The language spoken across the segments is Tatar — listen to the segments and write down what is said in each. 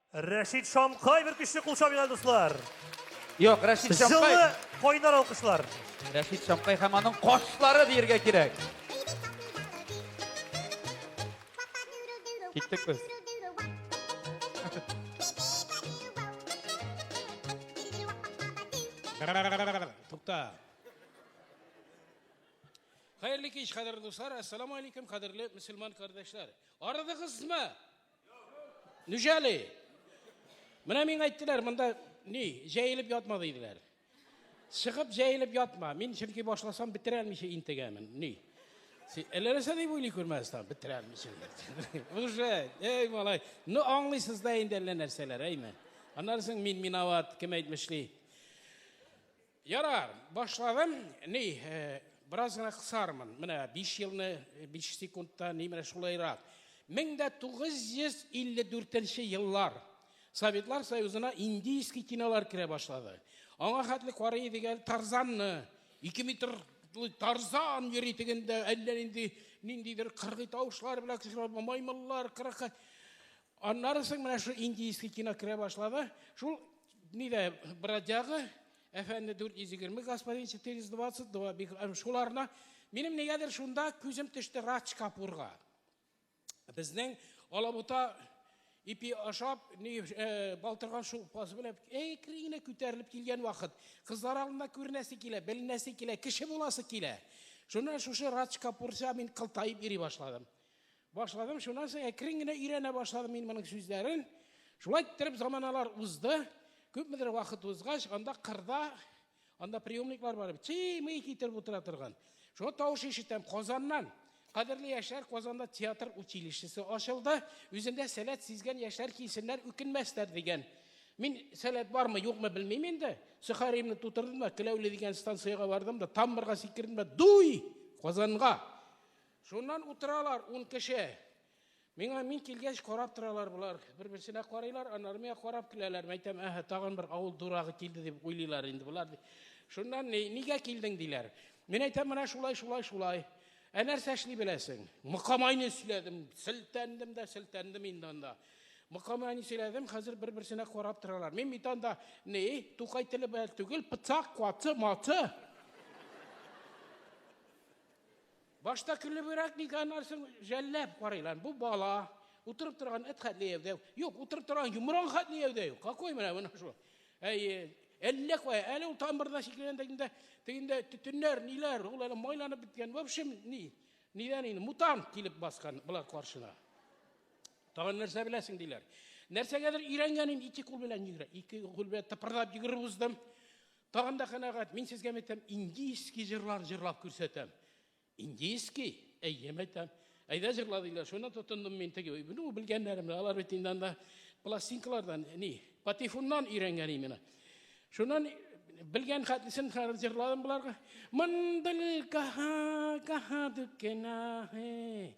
Рәшит Шамкай бер көчле кул чабыйга, дуслар. Юк, Рәшит Шамкай. Җылы кайнар алкышлар. Рәшит Шамкай һәм аның кошлары диергә кирәк. Киттек без. Тукта. Хәерле кич, кадерле дуслар. Ассаламу алейкум, кадерле мөселман кардәшләр. Арыдыгызмы? Нүжәли. Менә мин әйттеләр, монда ни, җәелеп ятма диделәр. Чыгып җәелеп ятма. Мин чөнки башласам бетерә алмыйча интегәмен. Ни? Әлләрсә дип уйлый күрмәстән бетерә алмыйча. Уже, эй малай, ну аңлыйсыз да инде әллә нәрсәләр, әйме. Аннан соң мин минават, кем әйтмешли. Ярар, башладым. Ни, э, бераз гына кысармын. Менә 5 елны 5 э, секундта ни менә шулайрак. 1954 еллар Советлар Союзына индийский кинолар керә башлады. Аңа хәтле карый дигән Тарзанны 2 метр Тарзан йөри дигәндә әллә нинди ниндидер кыргый тавышлар белән кешеләр маймыллар кырык Аннары соң менә шу индийский кино керә башлады. Шул нидә бродяга, әфәнде 420, господин 422, шуларына минем нигәдер шунда күзем төште Радж Капурга. Безнең Алабута ипи ашап, ни э, балтырган шулпасы белән әкренә күтәрелеп килгән вакыт, кызлар алдында күренәсе килә, беленәсе килә, кеше буласы килә. Шуннан шушы Радж Капурса мин кылтаеп йөри башладым. Башладым, шуннан соң әкрен генә өйрәнә башладым мин моның сүзләрен. Шулай иттереп заманалар узды. Күпмедер вакыт узгач, анда кырда, анда приемниклар бар, чый-мый китереп утыра торган. Шуңа тавыш ишетәм Казаннан. Кадерле яшьләр, Казанда театр училищесы ачылды. Үзендә сәләт сизгән яшьләр килсеннәр, үкенмәсләр дигән. Мин сәләт бармы, юкмы белмим инде. Сөхаримне тутырдым да, Келәүле дигән станциягә бардым да, тамбырга сикердем дә, дуй! Казанга! Шуннан утыралар ун кеше. Миңа мин килгәч карап торалар болар. Бер-берсенә карыйлар, аннары миңа карап киләләр. Мәйтәм, әһә, тагын бер авыл дурагы килде дип уйлыйлар инде болар. Шуннан ни, нигә килдең диләр. Мин әйтәм, менә шулай, шулай, шулай. Ә нәрсә эшли беләсең? Мыкамайны сөйләдем, селтәндем дә, селтәндем инде анда. Мыкамайны сөйләдем, хәзер бер-берсенә карап торалар. Мин бит анда, ни, тукай теле белән түгел, пыцак, каты, маты. Башта көлебрәк ник аннан соң жәлләп карыйлар. Бу бала утырып торган эт хәтле яудәю. Юк, утырып торган йомран хәтле яудәю. Какой менә менә шул. Әйе, әллә кая, әле ул тамырда шикелләнә дигәндә, дигәндә төтеннәр, ниләр, ул әле майланып беткән. В общем, ни, нидән инде мутант килеп баскан болар каршына. Тагын нәрсә беләсең диләр. Нәрсәгәдер өйрәнгәнем ике кул белән йөгерә. Ике кул белән тыпырдап йөгереп уздым. Тагын да канәгать, мин сезгә мәйтәм, индийский җырлар җырлап күрсәтәм. Индийский? Әйе, мәйтәм. Әйдә җырла диләр, шуны тотындым мин теге. Ну, белгәннәрем, алар бит инде анда пластинкалардан, ни, патефоннан өйрәнгән именно. Шуннан белгән хәтлесен җырладым боларга. Мындылга гаха дукена.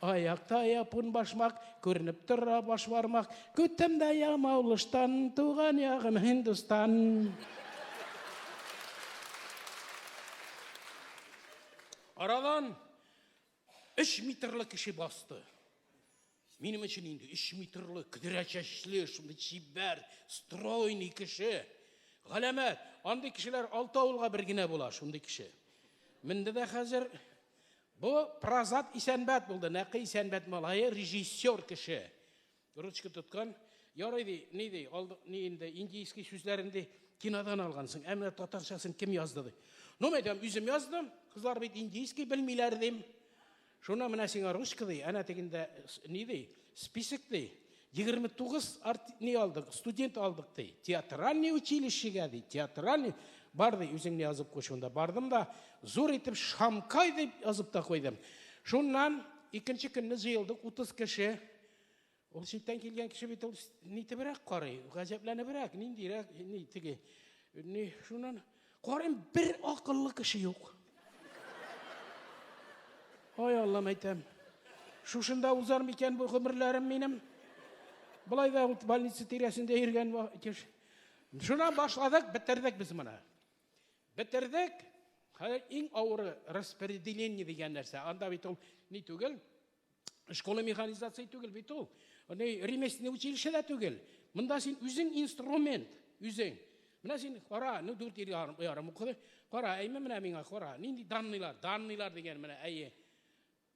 Аякта япун башмак, күренеп тора баш бармак. Көттем дә ямаулыштан, туган ягым Һиндустан. Арадан өч метрлы кеше басты. Минем өчен инде өч метрлы, көдерә чәчле, шундый чибәр, стройный кеше. Галәмәт, андый кешеләр алты авылга бер генә була, шундый кеше. Менде дә хәзер Бу Празат Исәнбәт булды. Нәкый Исәнбәт малае, режиссер кеше. Ручка тоткан. Ярый ди, ни ди, алды, ни инде, индийский сүзләрен ди, кинодан алгансың. Ә менә татарчасын кем язды ди. Ну, мен әйтәм, үзем яздым. Кызлар бит индийский белмиләр дим. Шуна менә сиңа ручка ди, әнә тегендә ни ди, список ди. 29 арт не алдык, студент алдык ди. Театральный училищега ди. Театральный бар ди, үзеңне язып куй шунда. Бардым да зур итеп Шамкай дип язып та куйдым. Шуннан икенче көнне җыелдык 30 кеше. Ул читтән килгән кеше бит ул нитебрәк карый, гаҗәпләнебрәк, ниндирәк, ни теге. Ни шуннан Карыйм, бер акыллы кеше юк. Ай Аллам әйтәм. Шушында узар микән бу гомерләрем минем? Болай да ут больница тирәсендә йөргән кеш. Шуна башладык, бетердек без моны. Бетердек. Хәзер иң авыры распределение дигән нәрсә. Анда бит ул ни түгел, Школа механизации түгел бит ул. Аны ремесленный училище дә түгел. Монда син үзең инструмент, үзең. Менә син кара, ну дүрт ел ярым укыды. Кара, әйме менә миңа кара. Нинди данныйлар, данныйлар дигән менә әйе.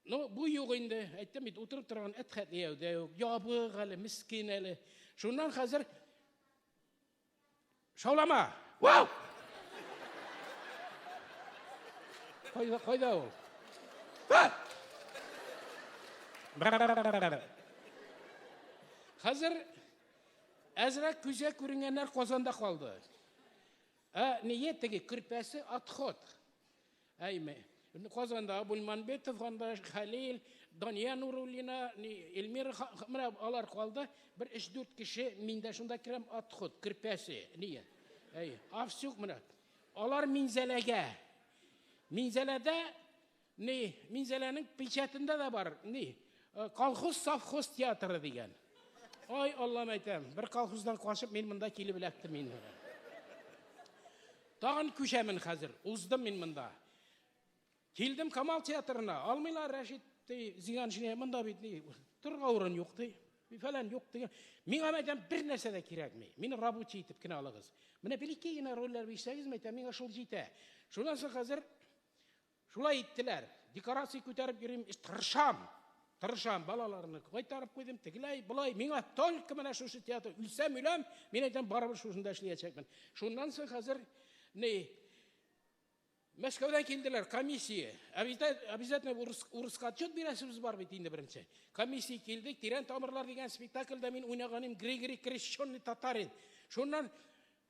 Ну, бу юк инде. Әйттем бит, утырып торган әт хәтле яудә юк. Ябык әле, мискин әле. Шуннан хәзер Шаулама! Вау! Кайда, кайда ул? Хәзер әзрәк күзә күренгәннәр Казанда калды. Ә ние теге көрпәсе отход. Әйме. Казанда Абульманбетов, анда Хәлил, Дания Нуруллина, Эльмира, менә алар калды. Бер 3-4 кеше, мин дә шунда керәм, отход, кирпәсе, нигә? Әй, Авсюк менә. Алар Минзәләгә. Минзәләдә, ни, Минзәләнең печатында да бар, ни, э, колхоз совхоз театры дигән. Ай, Аллам әйтәм, бер колхоздан кашып мин монда килеп эләктем инде. Тагын күчәмен хәзер. Уздым мин монда. Килдем Камал театрына. Алмыйлар, Рәшит, ди, Зиганшине, монда бит, ди, торырга урын юк, ди. Фәлән юк, ди. Миңа мәйтәм бер нәрсә дә кирәкми. Мине рабочий итеп кенә алыгыз. Менә бер ике генә рольләр бирсәгез, мәйтәм, миңа шул җитә. Шуннан соң хәзер Шулай иттеләр. Декорация күтәреп йөрим, эш тырышам. Тырышам, балаларны кайтарып куйдым, тегеләй, болай. Миңа только менә шушы театр. Үлсәм, үләм, мин әйтәм, барыбер шушында эшләячәкмен. Шуннан соң хәзер ни Мәскәүдән килделәр комиссия. Обязательно урыс, урыска отчет бирәсебез бар бит инде беренче. Комиссия килде, тирән тамырлар дигән спектакльдә мин уйнаганым Григорий Крещенный татарин. Шуннан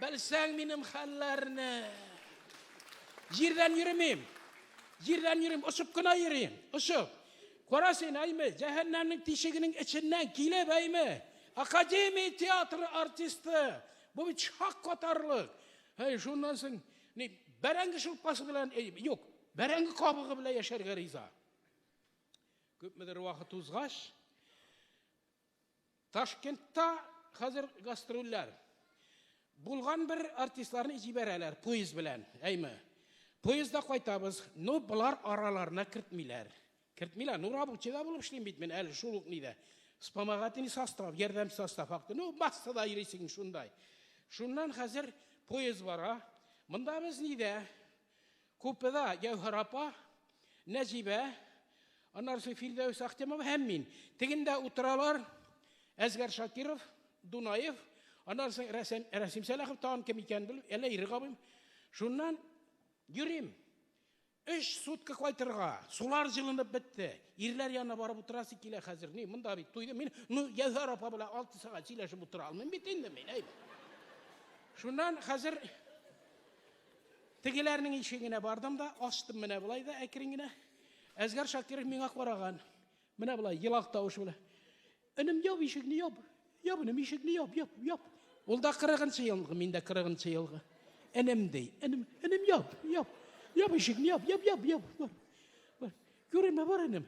Белсәң минем хәлләрне. Җирдән йөремим. Җирдән йөрим, очып кына йөрим. Очып. Кара син, әйме, җәһәннәмнең тишегенең эченнән килеп, әйме, академия театры артисты. Бу бит шак катарлык. Әй, шуннан соң, ни, бәрәңге шулпасы белән, юк, бәрәңге кабыгы белән яшәргә риза. Күпмедер вакыт узгач, Ташкентта хәзер гастрольләр. Булган бер артистларны җибәрәләр поезд белән, әйме. Поездда кайтабыз, ну болар араларына кертмиләр. Кертмиләр, ну рабочийда булып эшлим бит мин әле шул ук нидә. Вспомогательный состав, ярдәм состав хакты. Ну массада йөрисең шундай. Шуннан хәзер поезд бара. Монда без нидә? Купеда Җәүһәр апа, Нәҗибә, аннары Филдәүс Ахтямов һәм мин. Тегендә утыралар Әзгәр Шакиров, Дунаев, аннары соң Рәсәм, Рәсим Сәләхов тагын кем икәнен белмим, әллә Ирек абыйм. Шуннан йөрим. Өч сутка кайтырга, сулар җылынып бетте. Ирләр янына барып утырасы килә хәзер. Ни, монда бит туйды. Мин, ну, Язар апа белән алты сәгать сөйләшеп утыра алмыйм бит инде мин, әйбәт. Шуннан хәзер Тегеләрнең ишегенә бардым да, ачтым менә болай да әкрен генә. Әзгәр Шакиров миңа караган. Менә болай елак тавыш белән. Энем яп ишекне яп. Яп энем ишекне яп, яп, яп. Ул да 40 елгы, мин дә 40 елгы. Энем ди. Энем, энем яп, яп. Яп ишекне яп, яп, яп, яп. Бар. Бар. Күренмә бар энем.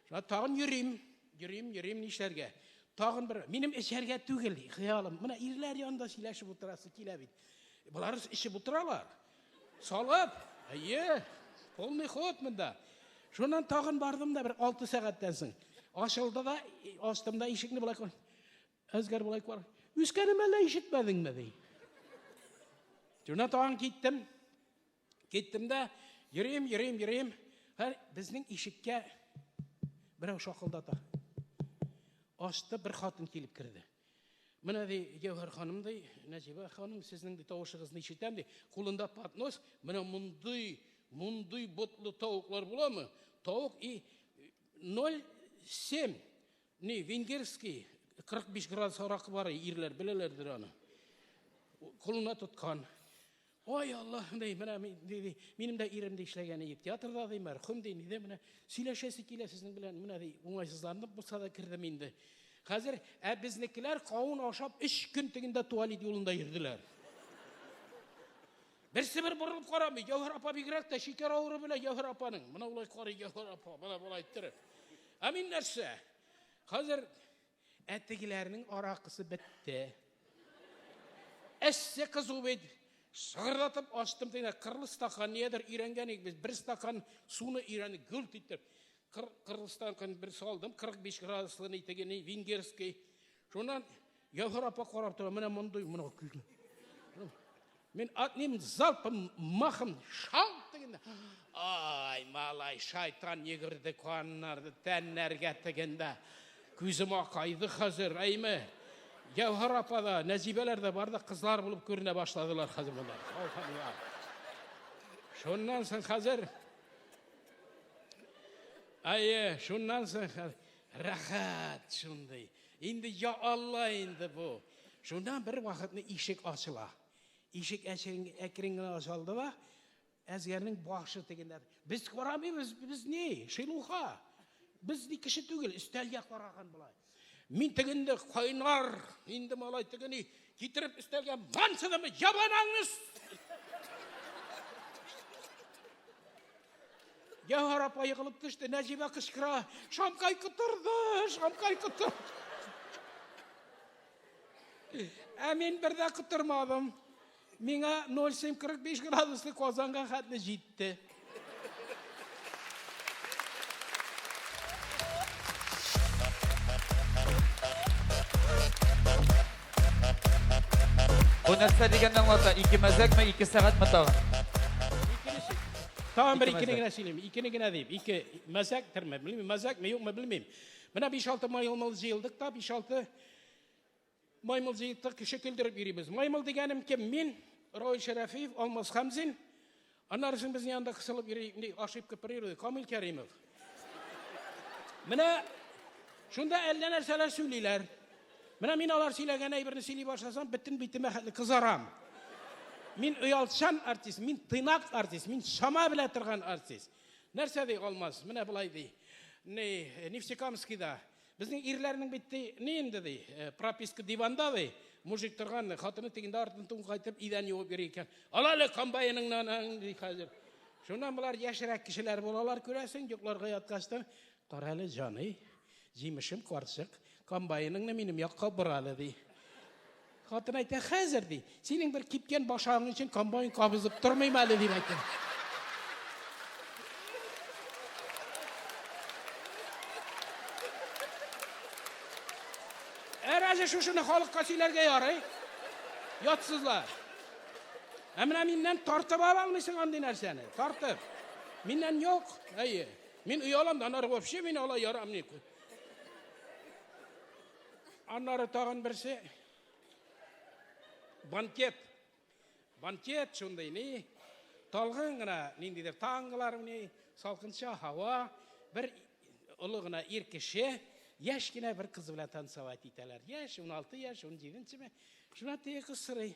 Тагын йөрим. Йөрим, йөрим, нишләргә? Тагын бер, минем эчәргә түгел, хыялым. Менә ирләр янында сөйләшеп утырасы килә бит. Болар эчеп утыралар. Салып, әйе, полный ход монда. Шуннан тагын бардым да бер алты сәгатьтән соң. Ачылды да, астымда ишекне былай Әзгәр болай кар. Үскәнем әллә ишетмәдеңме ди. Тюна тагын киттем. Киттем дә йөрим, йөрим, йөрим. Һәр безнең ишеккә берәү шакылдата. Ашты бер хатын килеп керде. Менә ди Гәүһәр ханым ди, Нәҗибә ханым, сезнең ди тавышыгызны ишетәм ди. Кулында поднос, менә мондый, мондый ботлы тавыклар буламы? Тавык и 07 Ни, венгерский, 45 градус аракы бар, ирләр беләләрдер аны. Кулына тоткан. Ой, Аллах, ди, менә минем дә ирем дә эшләгән иде театрда, ди, мәрхүм ди, нидә менә сөйләшәсе килә сезнең белән, менә ди, уңайсызланып булса да кердем инде. Хәзер ә безнекеләр кавын ашап 3 көн тегендә туалет юлында йөрделәр. Берсе бер борылып карамый. Җәүһәр апа бигрәк тә шикәр авыру белән Җәүһәр апаның. Менә улай карый Җәүһәр апа, менә болай иттереп. Ә мин нәрсә? Хәзер әтигеләрнең аракысы бетте. Әссе кызу бит. Сыгырдатып ачтым дигән кырлы стакан ниядер өйрәнгән идек без. Бер стакан суны өйрәнеп гүлт итеп. Кыр, кырлы стакан бер салдым, 45 градуслы ни теге ни венгерский. Шуннан Ягыр апа карап тора, менә мондый, менә күз. Мин атним залпым, махым, шал дигәндә. Ай, малай, шайтан йөгерде каннар, тәннәргә тигәндә. Күзем акайды хәзер, әйме. Ягыр апа да, Нәзибәләр дә бар да кызлар булып күренә башладылар хәзер монда. Шуннан соң хәзер Әйе, шуннан соң рәхәт шундый. Инде я Алла инде бу. Шунда бер вакытны ишек ачыла. Ишек әкрен генә ачылды да әзгәрнең башы тегендә. Без карамыйбыз, без ни? Шилуха. Без ни кеше түгел, өстәлгә караган болай. Мин тегенде кайнар, инде малай тегени Китереп өстәлгә мансыдымы, ябанаңны Гәүһәр апа егылып төште, Нәҗибә кычкыра, шамкай котырды, шамкай котырды. Ә мин бер дә котырмадым. Миңа 0745 градуслы Казанга хәтле җитте. Бу нәрсә дигәнне аңлата? Ике мәзәкме, ике сәгатьме тагын? Тагын бер икене генә сөйлим. Икене генә дип. Ике мәзәк терме, белмим, мәзәкме, юкмы, белмим. Менә 5-6 майлымыл җыелдык та, 5-6 Маймыл җыентык кеше көлдереп йөрибез. Маймыл дигәнем кем? Мин, Равил Шәрәфиев, Алмаз Хәмзин. Аннары син безнең янда кысылып йөри, ошибка природы, Камил Кәримов. Менә шунда әллә нәрсәләр сөйлиләр. Менә мин алар сөйләгән әйберне сөйли башласам, бөтен битемә хәтле кызарам. Мин оялчан артист, мин тыйнак артист, мин шама белә торган артист. Нәрсә ди Алмаз? Менә былай ди. Ни, Нефтекамскида Безнең ирләрнең бит ди, ни инде ди, э, прописка диванда ди, мужик торган, хатыны тегендә артын тун кайтып, идән юып йөри икән. Ала әле комбайныңны анаң, ди хәзер. Шуннан болар яшьрәк кешеләр булалар, күрәсең, йокларга яткачтан, кара әле, җаный, җимешем карчык, комбайныңны минем якка бор әле, ди. Хатын әйтә, хәзер, ди, синең бер кипкән башагың өчен комбайн кабызып тормыйм әле, дип әйтә. Ә разве шушыны халыкка сөйләргә ярый? Ятсызлар. Ә менә миннән тартып ала алмыйсың андый нәрсәне. Тартып. Миннән юк. Әйе. Мин оялам да, анары вообще мин алай ярамый. Аннары тагын берсе. Банкет. Банкет шундый ни. Талгын гына ниндидер таңгылар уйный, салкынча һава, бер олы гына ир кеше яшь кенә бер кыз белән танцевать итәләр. Яшь, 16 яшь, 17 ме? Шунда теге кыз сорый.